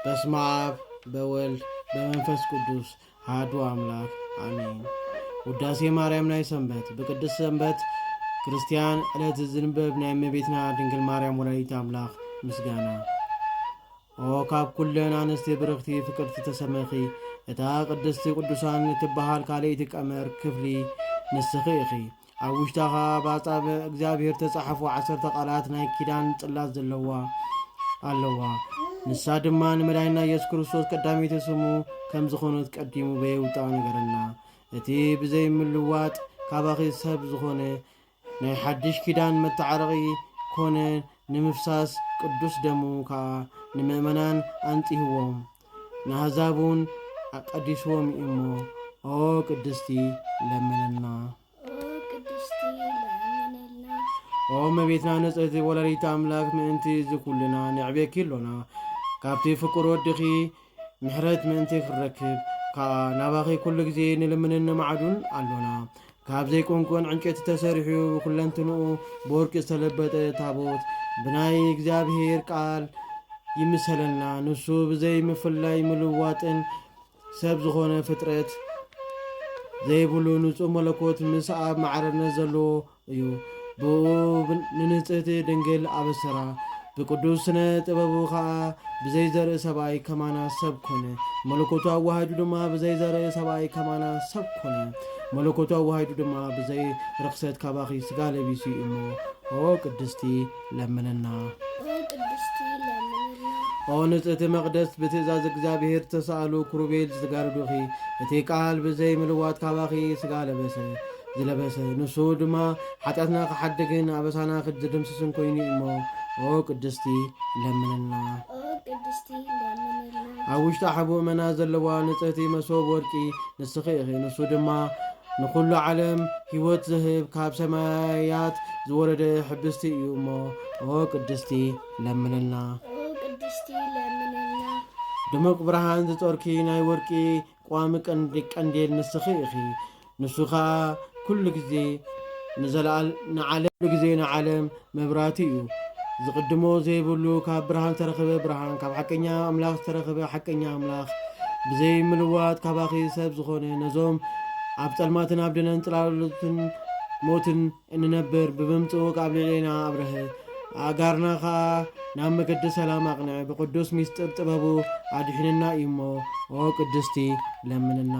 በስመ አብ በወልድ በመንፈስ ቅዱስ አሐዱ አምላክ አሜን። ውዳሴ ማርያም ናይ ሰንበት ብቅድስ ሰንበት ክርስቲያን ዕለት ዝንበብ ናይ እመቤትና ድንግል ማርያም ወላዲት አምላክ ምስጋና ኦ ካብ ኩለን ኣንስቲ ብርኽቲ ፍቅርቲ ተሰመኺ እታ ቅድስቲ ቅዱሳን እትበሃል ካልእቲ ቀመር ክፍሊ ንስኺ ኢኺ ኣብ ውሽጣ ኸኣ ብ ኣጻብዕ እግዚኣብሄር እተጻሕፉ ዓሰርተ ቓላት ናይ ኪዳን ጽላት ዘለዋ ኣለዋ። ንሳ ድማ ንመድኃኒና ኢየሱስ ክርስቶስ ቀዳመይቲ ስሙ ከም ዝኾነት ቀዲሙ በየውጣ ነገረና። እቲ ብዘይ ምልዋጥ ካባኺ ሰብ ዝኾነ ናይ ሓድሽ ኪዳን መተዓረቒ ኮነ ንምፍሳስ ቅዱስ ደሙ ከኣ ንምእመናን ኣንጽህዎም። ንኣሕዛብ እውን ኣቀዲስዎም እዩ እሞ ኦ ቅድስቲ ለምነልና ኦ መቤትና ንጽሕቲ ወላዲት ኣምላክ ምእንቲ እዚ ኩልና ንዕቤኪ ኣሎና ካብቲ ፍቁር ወድኺ ምሕረት ምእንቲ ክንረክብ ከዓ ናባኺ ኩሉ ግዜ ንልምንን ንማዕዱን ኣሎና ካብ ዘይኰንኰን ዕንጨይቲ ተሰሪሑ ብኩለንትንኡ ብወርቂ ዝተለበጠ ታቦት ብናይ እግዚኣብሔር ቃል ይምሰለና። ንሱ ብዘይ ምፍላይ ምልዋጥን ሰብ ዝኾነ ፍጥረት ዘይብሉ ንጹህ መለኮት ምስ ኣብ ማዕረነት ዘለዎ እዩ። ብኡ ንንጽህቲ ድንግል ኣበሰራ። ብቅዱስ ስነ ጥበቡ ከኣ ብዘይ ዘርኢ ሰብኣይ ከማና ሰብ ኮነ። መለኮቱ ኣዋሃሂዱ ድማ ብዘይ ዘርኢ ሰብኣይ ከማና ሰብ ኮነ። መለኮቱ ኣዋሂዱ ድማ ብዘይ ርኽሰት ካባኺ ስጋ ለቢሱ እዩ እሞ ኦ ቅድስቲ ለምንና። ኦ ቅድስቲ ለምንና። ኦ ንጽህቲ መቅደስ ብትእዛዝ እግዚኣብሔር ዝተሳእሉ ኩሩቤል ዝተጋርዱኺ እቲ ቃል ብዘይ ምልዋጥ ካባኺ ስጋ ለበሰ። ዝለበሰ ንሱ ድማ ሓጢኣትና ክሓድግን ኣበሳና ክድምስስን ኮይኑ እዩ እሞ ኦ ቅድስቲ ለምንና ኣብ ውሽጢ ሓቡ እመና ዘለዋ ንጽህቲ መሶብ ወርቂ ንስኺ ኢኺ ንሱ ድማ ንኹሉ ዓለም ህይወት ዝህብ ካብ ሰማያት ዝወረደ ሕብስቲ እዩ እሞ ኦ ቅድስቲ ለምንልና ድሙቕ ብርሃን ዝጦርኪ ናይ ወርቂ ቋሚ ቀንዲ ቀንዴል ንስኺ ኢኺ ንሱ ከኣ ኩሉ ግዜ ንዘለኣል ንዓለም። ኩሉ ግዜ ንዓለም መብራህቲ እዩ ዝቅድሞ ዘይብሉ ካብ ብርሃን ዝተረኽበ ብርሃን ካብ ሓቀኛ ኣምላኽ ዝተረኽበ ሓቀኛ ኣምላኽ ብዘይ ምልዋጥ ካባኺ ሰብ ዝኾነ ነዞም ኣብ ጸልማትን ኣብ ደነን ጽላሎትን ሞትን እንነብር ብብምጽኡቅ ኣብ ልዕሌና ኣብረሀ ኣእጋርና ከኣ ናብ መገዲ ሰላም ኣቅንዐ ብቅዱስ ሚስጥር ጥበቡ ኣድሒነና እዩ እሞ ኦ ቅድስቲ ለምንና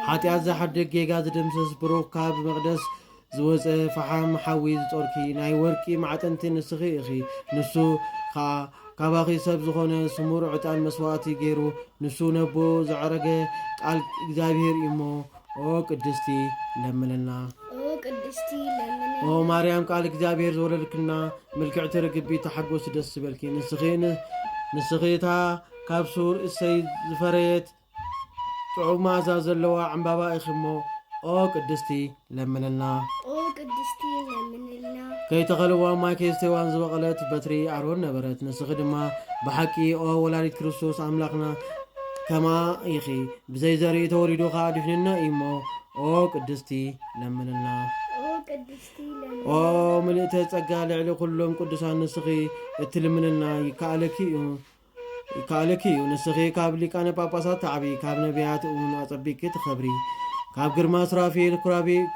ሓጢኣት ዝሓድግ ጌጋ ዝድምስስ ብሩኽ ካብ መቅደስ ዝወፀ ፈሓም ሓዊ ዝጦርኪ ናይ ወርቂ ማዕጠንቲ ንስኺ እኺ ንሱ ከኣ ካባኺ ሰብ ዝኾነ ስሙር ዕጣን መስዋእቲ ገይሩ ንሱ ነቦ ዘዕረገ ቃል እግዚኣብሔር እዩሞ ኦ ቅድስቲ ለምንልና ኦ ቅድስቲ ለምንልና ኦ ማርያም ቃል እግዚኣብሔር ዝወለድክልና ምልክዕቲ ርግቢ ተሓጎሲ ደስ ዝበልኪ ንስኺ ንስኺ እታ ካብ ሱር እሰይ ዝፈረየት ጥዑም ማዛ ዘለዋ ዕምባባ ኢኺ እሞ ኦ ቅድስቲ ለምንልና ኦ ቅድስቲ ለምንልና ከይተኸልዋ ማይ ከይስተዋን ዝበቐለት በትሪ ኣሮን ነበረት ንስኺ ድማ ብሓቂ ኦ ወላዲት ክርስቶስ ኣምላኽና ከማ ኢኺ ብዘይ ዘርኢ ተወሊዱ ከኣ ድሕንና እዩሞ ኦ ቅድስቲ ለምንልና። ኦ ምልእተ ጸጋ ልዕሊ ኩሎም ቅዱሳን ንስኺ እትልምንልና ይከኣለኪ እዩ ይከኣለኪ እዩ ንስኺ ካብ ሊቃነ ጳጳሳት ተዓቢ ካብ ነቢያት እውን ኣጸቢቂ ትኸብሪ ካብ ግርማ ስራፌል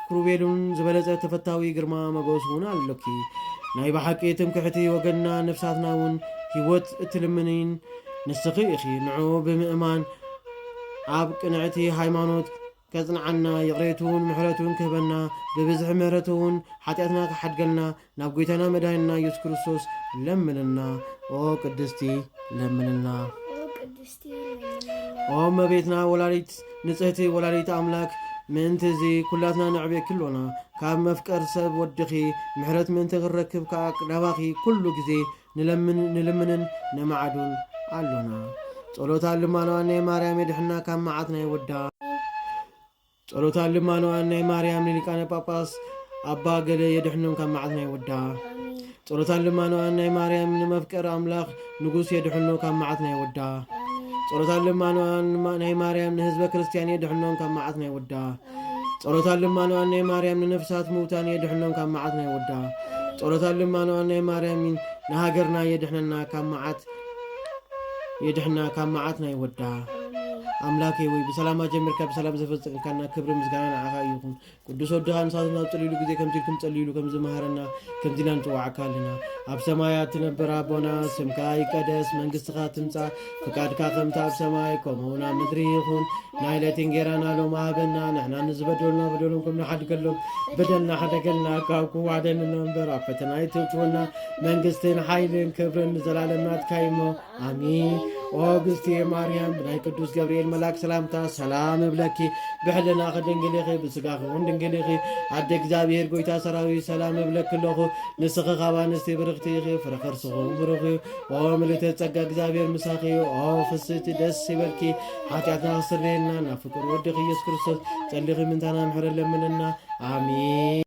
ክሩቤሉን ዝበለጸ ተፈታዊ ግርማ መጎስ እውን ኣሎኪ ናይ ብሓቂ ትምክሕቲ ወገንና ነፍሳትና እውን ህይወት እትልምኒን ንስኺ ኢኺ ንዑ ብምእማን ኣብ ቅንዕቲ ሃይማኖት ከጽንዓና ይቕሬቱን ምሕረቱን ክህበና ብብዝሒ ምሕረቱውን ሓጢኣትና ክሓድገልና ናብ ጎይታና መድሃኒና ኢየሱስ ክርስቶስ ለምንልና ኦ ቅድስቲ ለምንልና ኦ መቤትና ወላዲት ንጽህቲ ወላዲት ኣምላክ ምእንቲ እዚ ኩላትና ነዕብየኪ ኣሎና ካብ መፍቀር ሰብ ወድኺ ምሕረት ምእንቲ ክንረክብ ከዓ ናባኺ ኩሉ ግዜ ንለምን ንልምንን ነማዕዱን ኣሎና ጸሎታን ልማኖኣን ናይ ማርያም የድሕና ካብ መዓት ናይ ወዳ ጸሎታን ልማኖኣን ናይ ማርያም ንሊቃነ ጳጳስ ኣባ ገለ የድሕኖም ካብ መዓት ናይ ወዳ ጸሎታን ልማኖኣን ናይ ማርያም ንመፍቀር ኣምላኽ ንጉስ የድሕኖ ካብ መዓት ናይ ወዳ ጸሎታን ልማኖኣን ናይ ማርያም ንህዝበ ክርስትያን የድሕኖም ካብ መዓት ናይ ወዳ ጸሎታን ልማኖኣን ናይ ማርያም ንነፍሳት ምውታን የድሕኖም ካብ መዓት ናይ ወዳ ጸሎታን ልማኖኣን ናይ ማርያም ንሃገርና የድሕነና ካብ መዓት የድሕና ካብ መዓት ናይ ወዳ ኣምላኬ ወይ ብሰላም ኣጀምርካ ብሰላም ዘፈፀምካና ክብሪ ምስጋና ንዓኻ ይኹን ቅዱስ ወድኻ ንሳት ናብ ፀልሉ ግዜ ከምዚ ኢልኩም ፀልሉ ከም ዝመሃረና ከምዚ ኢና ንፅዋዓካ ኣለና ኣብ ሰማያት ትነብር ኣቦና ስምካ ይቀደስ መንግስትኻ ትምፃእ ፍቃድካ ከምቲ ኣብ ሰማይ ከምኡ ናብ ምድሪ ይኹን ናይ ለይቲ እንጌራና ሎም ሃበና ንሕና ንዝበደሉና በደሎም ከም ንሓድገሎም በደልና ሓደገልና ካብ ክዋደንና እምበር ኣብ ፈተና ይትውትወና መንግስትን ሓይልን ክብርን ንዘላለም ናትካ እሞ ኣሚን ኦ ግዝቲ ማርያም ብናይ ቅዱስ ገብርኤል መላክ ሰላምታ ሰላም እብለኪ ብሕልና ክድንግል ኢኺ ብስጋ ክኹን ድንግል ኢኺ ኣደ እግዚኣብሔር ጎይታ ሰራዊት ሰላም እብለኪ ኣለኹ ንስኺ ካብ ኣንስቲ ብርኽቲ ኢኺ ፍረ ከርስኹ ብሩኽ እዩ ኦ ምልእተ ጸጋ እግዚኣብሔር ምሳኺ እዩ ኦ ፍስቲ ደስ ይበልኪ ሓጢኣትና ክስረየልና ናብ ፍቅር ወድኺ ኢየሱስ ክርስቶስ ጸሊኺ ምንታና ምሕረ ለምነና ኣሚን